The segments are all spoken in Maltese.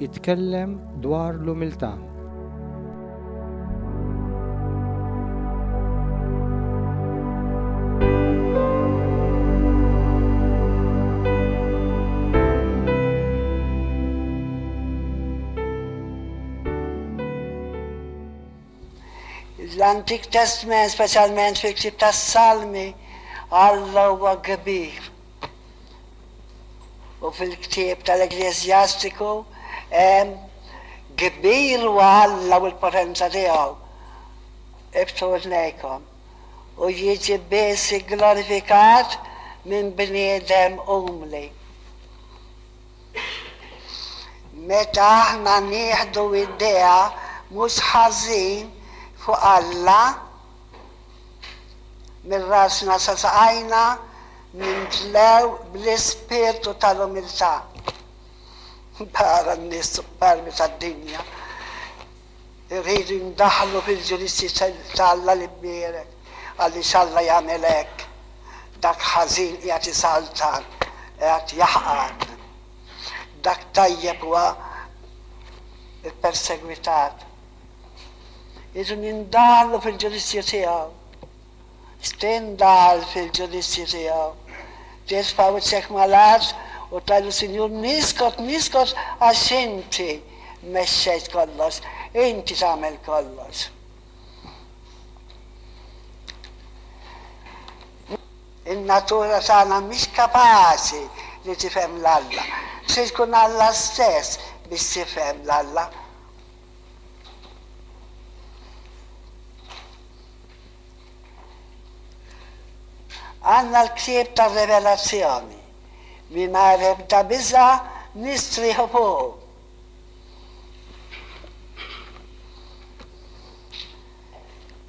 Jitkellem dwar l-umiltà. L-Antik Testment, speċjalment fil-ktieb tas-Salmi, Alla huwa kbir. U fil-ktieb tal-Ekkleżjastiku hemm, Kbir huwa Alla u l-potenza tiegħu, ibtu għnejkom, u jiġi biss igglorifikat minn bniedem umli. Meta aħna nieħdu idea mhux ħażin fuq Alla, Minn rasna sa saqajna nimtlew bl-ispirtu tal-umiltà. Barra n-nies superbi tad-dinja, irridu jindaħlu fil-ġudizzji ta' Alla l-imbierek, għaliex Alla jagħmel hekk. Dak ħażin qiegħed isaltan, qiegħed jaħqar. Dak tajjeb huwa ppersegwitat. Idu minn dalu fil-ġudizzju tiegħu. Steen daħal fil-ġudizzju tiegħu. Ġej sfawwidxek mal-art u ta lis-Sinjur niskot, niskot għax inti mexxejt kollox, inti tagħmel kollox. In-natura tagħna mhix kapaċi li tifhem 'l Alla. Trid tkun Alla stess biex tifhem 'l Alla. Għandna l-ktieb tar-Revelazzjoni. Mingħajr ebda biża' nistrieħu fuqu.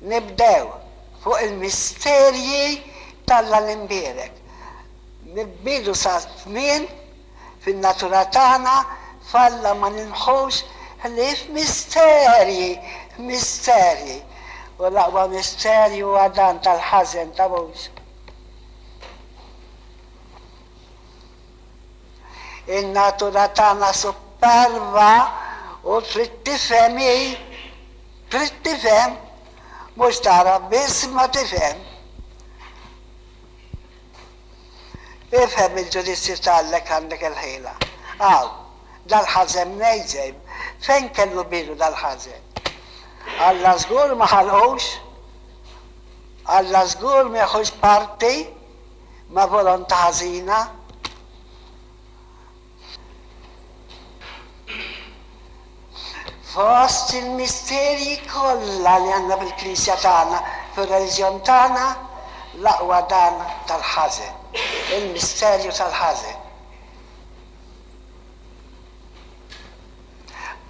Nibdew fuq il-misterji t'Alla l-Imbierek. Nibbidu sa tmien Fin-natura tagħna f'Alla ma nilmħux ħlief misterji, misterji, u l-aqwa misterju huwa dan tal-ħażen ta' Mowżu. In-natura tagħna supperva u trid tifhem hi, trid tifhem, mhux tagħraf biss imma tifhem. Ifhem il-ġudizzju ta' Allek għandek il-ħila. Hawn, dal-ħażen mnejżem, fejn kellu bidu dal-ħażen? Alla żgur ma ħalqux! Alla żgur ma jeħux parti ma' volontà ħażina! Fost il-misterji kollha li għandna fil-Knisja tagħna, fir-reliġjon tagħna, l-aqwa dan tal-ħażen, il-misterju tal-ħażen.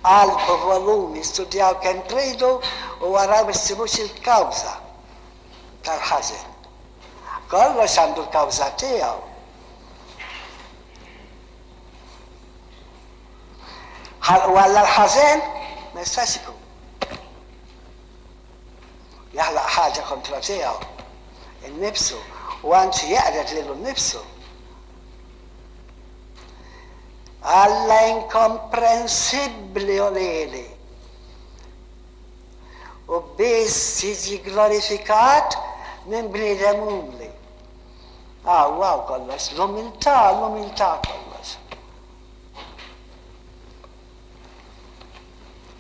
Alfu volumi, studjaw kemm tridu u araw ma ssibux il-kawża tal-ħażen. Kollox għandu l-kawża tiegħu. Ħalqu Alla l-ħażen? Ma jistax ikun. Jaħlaq ħaġa kontra tiegħu, innifsu, u anzi jeqred lilu nnifsu. Alla inkomprensibbli u lili. U biss jiġi glorifikat minn bniedem umli. Aw, aw kollox, l-umiltà, l-umiltà kollox.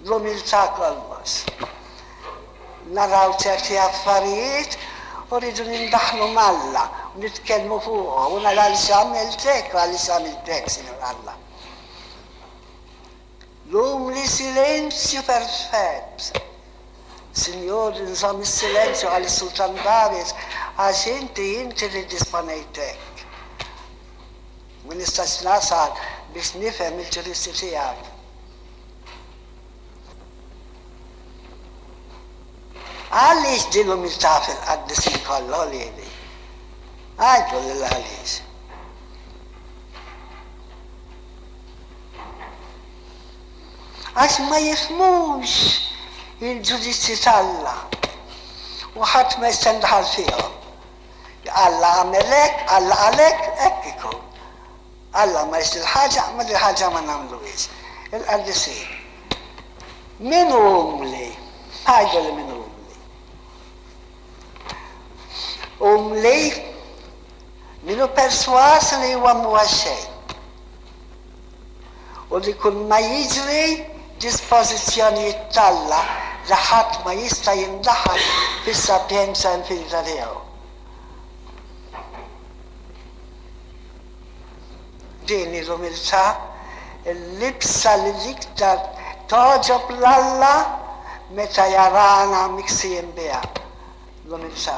L-umiltà kollox. Naraw ċerti affarijiet u rridu nindaħlu malla, u nitkellmu fuqhom, u nara li x'għamilt hekk, għaliex għamilt hekk, Sinjur Alla. Dum li silenzju perfett. Sinjur, inżomm is-silenzju, qal is-sultan Darius, għax inti, inti li disponejt hekk. Ma nistax nasal biex nifhem il-ġuristi tiegħek. Għaliex din l-umiltà fil-qaddisin kollha lili? Għidlu lil għaliex. Għax ma jifhmux il-ġudizzji t'Alla, u ħadd ma jista' jindaħal fihom. Alla għamel hekk, Alla qal hekk, hekk ikun. Alla ma jrid il-ħaġa, mela il-ħaġa ma nagħmluhiex. Il-qaddisin. Min hu umli? Ngħidu li min hu umli. Umli, min hu persważ li huwa mhuwa xejn u li kulma jiġri dispożizzjonijiet t'Alla li ħadd ma jista' jindaħal fis-sapienza infinita tiegħu. Din hi l-umiltà, il-libsa li l-iktar togħġob 'l Alla meta jarana miksijin biha, l-umiltà.